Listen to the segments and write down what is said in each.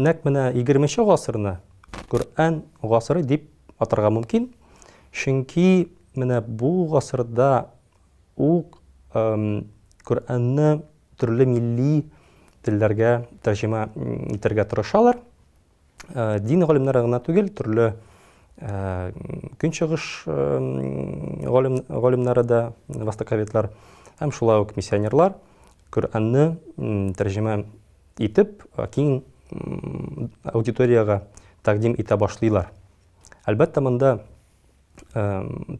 Нәк менә 20-нче гасырны Коръән гасыры дип атарга мөмкин. Чөнки менә бу гасырда ук Коръәнне төрле милли телләргә тәрҗемә итәргә тырышалар. дин галимнәре гына түгел, төрле көнчыгыш галим, галимнәре дә, востоковедлар, һәм шулай ук миссионерлар Коръәнне тәрҗемә итеп, киң аудиториягә тәкъдим итә башлыйлар. Әлбәттә, монда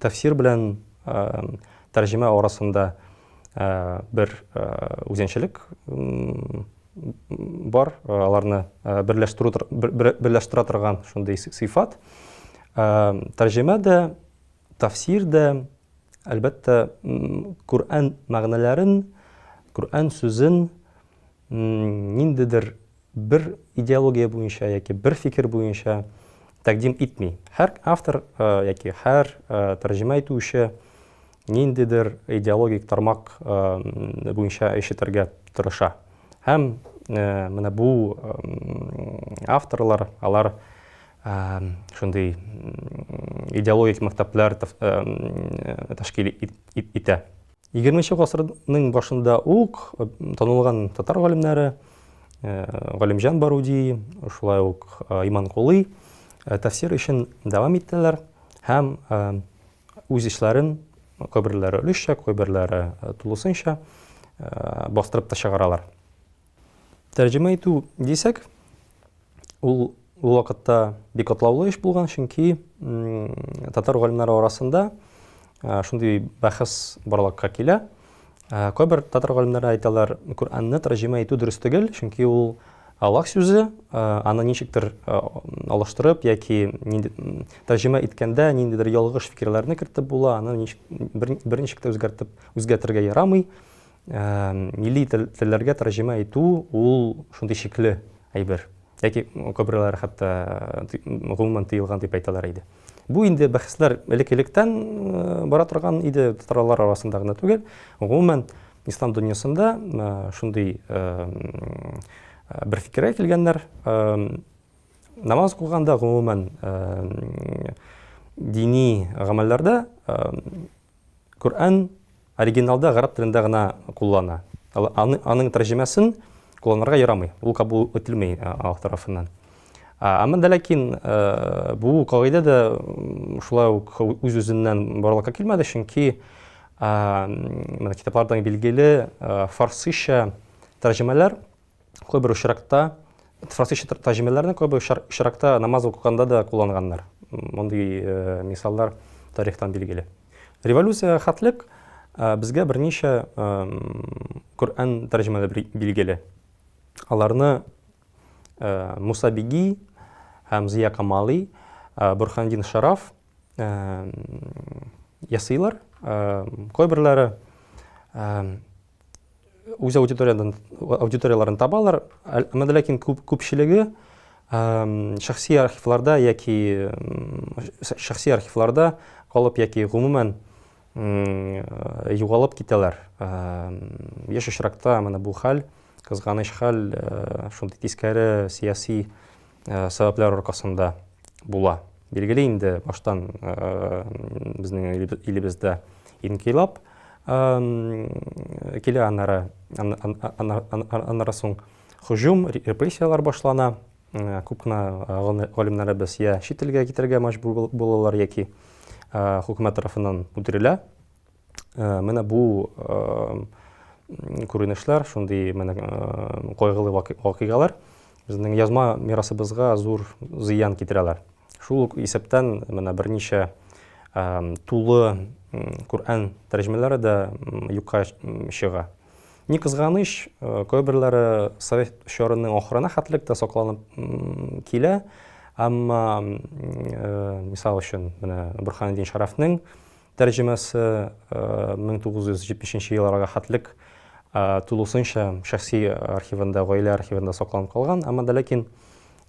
тәфсир белән тәрҗемә арасында бер үзенчәлек бар, аларны берләштерә торган шундый сыйфат. Тәрҗемә дә, тәфсир дә, әлбәттә, Коръән мәгънәләрен, Коръән сүзен ниндидер бер идеология буенча яки бер фикер буенча тәкъдим итми. Һәр автор яки һәр тәрҗемә итүче ниндидер идеологик тармак буенча эш итәргә тырыша. Һәм менә бу авторлар, алар шундый идеологик мәктәпләр тәшкил итә. Егерме нче гасырның башында ук танылган татар галимнәре Галимҗан Баруди, шулай ук Иманкулый тәфсир эшен дәвам иттеләр һәм үз эшләрен кайберләре өлешчә, кайберләре тулысынча бастырып та чыгаралар. Тәрҗемә итү дисәк, Ул ул вакытта бик катлаулы эш булган, чөнки татар галимнәре арасында шундый бәхәс барлыкка килә. Кайбер татар галимнәре әйтәләр, Коръәнне тәрҗемә итү дөрес түгел, чөнки ул алак сүзе, аны ничектер алыштырып яки тәрҗемә иткәндә ниндидер ялгыш фикерләрне кертеп була, аны бер ничек тә үзгәртеп үзгәртергә ярамый. Милли телләргә тәрҗемә итү ул шундый шикле әйбер. Яки күбрәләр хәтта гомумән тыелган дип әйтәләр иде. Бу инде бәхәсләр элек-электән бара торган иде, татарлар арасында гына түгел. Гомумән, ислам дөньясында шундый бер фикергә килгәннәр, намаз укыганда, гомумән, дини гамәлләрдә Коръән оригиналда гарәп телендә генә куллана. Аның тәрҗемәсен кулланырга ярамый. Ул кабул ителми Аллаһ тарафыннан. Әмма дә ләкин бу кагыйдә дә шулай ук үз-үзеннән барлыкка килмәде, чөнки менә китаплардан билгеле фарсыча тәрҗемәләр Кайбер очракта фарсича тәрҗемәләрне кайбер очракта намаз укыганда да кулланганнар. Мондый э, мисаллар тарихтан билгеле. Революция хәтлек э, безгә берничә Коръән тәрҗемәләре билгеле. Аларны э, Муса Биги һәм Зия Камали, Бурхандин Шараф ясыйлар. Кайберләре үз аудиториядан аудиторияләрен табалар, әмма ләкин күп күпчелеге шәхси архивларда яки шәхси архивларда калып яки гомумән югалып китәләр. Яшь очракта менә бу хәл, кызганыч хәл, шундый тискәре сәяси э, сәбәпләр аркасында була. Билгеле инде баштан э, безнең илебездә инкыйлаб килә, аннары аннары соң һөҗүм, репрессияләр башлана. Күп кенә галимнәребез я чит илгә китәргә мәҗбүр булалар яки хөкүмәт тарафыннан үтерелә. Менә бу күренешләр, шундый менә кайгылы вакыйгалар безнең язма мирасыбызга зур зыян китерәләр. Шул ук исәптән менә берничә тулы Коръән тәрҗемәләре дә юкка чыга. Ни кызганыч, кайберләре совет чорының ахырына хәтлек тә сакланып килә, әмма мисал өчен менә Борханетдин Шәрәфнең Тәрҗемәсе 1970 нче елларга хәтлек тулысынча шәхси архивында, гаилә архивында сакланып калган, әмма дә ләкин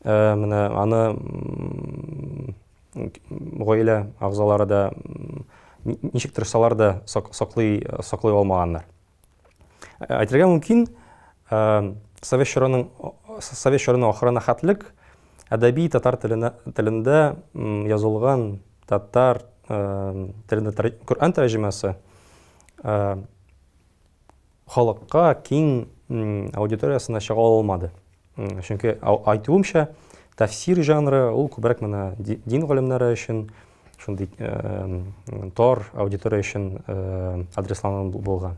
менә аны гаилә әгъзалары да ничек тырышсалар да саклый алмаганнар. Әйтергә мөмкин, совет чорының совет чорының ахырына хәтлек әдәби татар телендә язылган татар телендә Коръән тәрҗемәсе халыкка киң аудиториясенә чыга алмады. Чөнки айтуымча, тәфсир жанры ул күбрәк менә дин галимнәре өчен шундый тар аудитория өчен адресланган булган.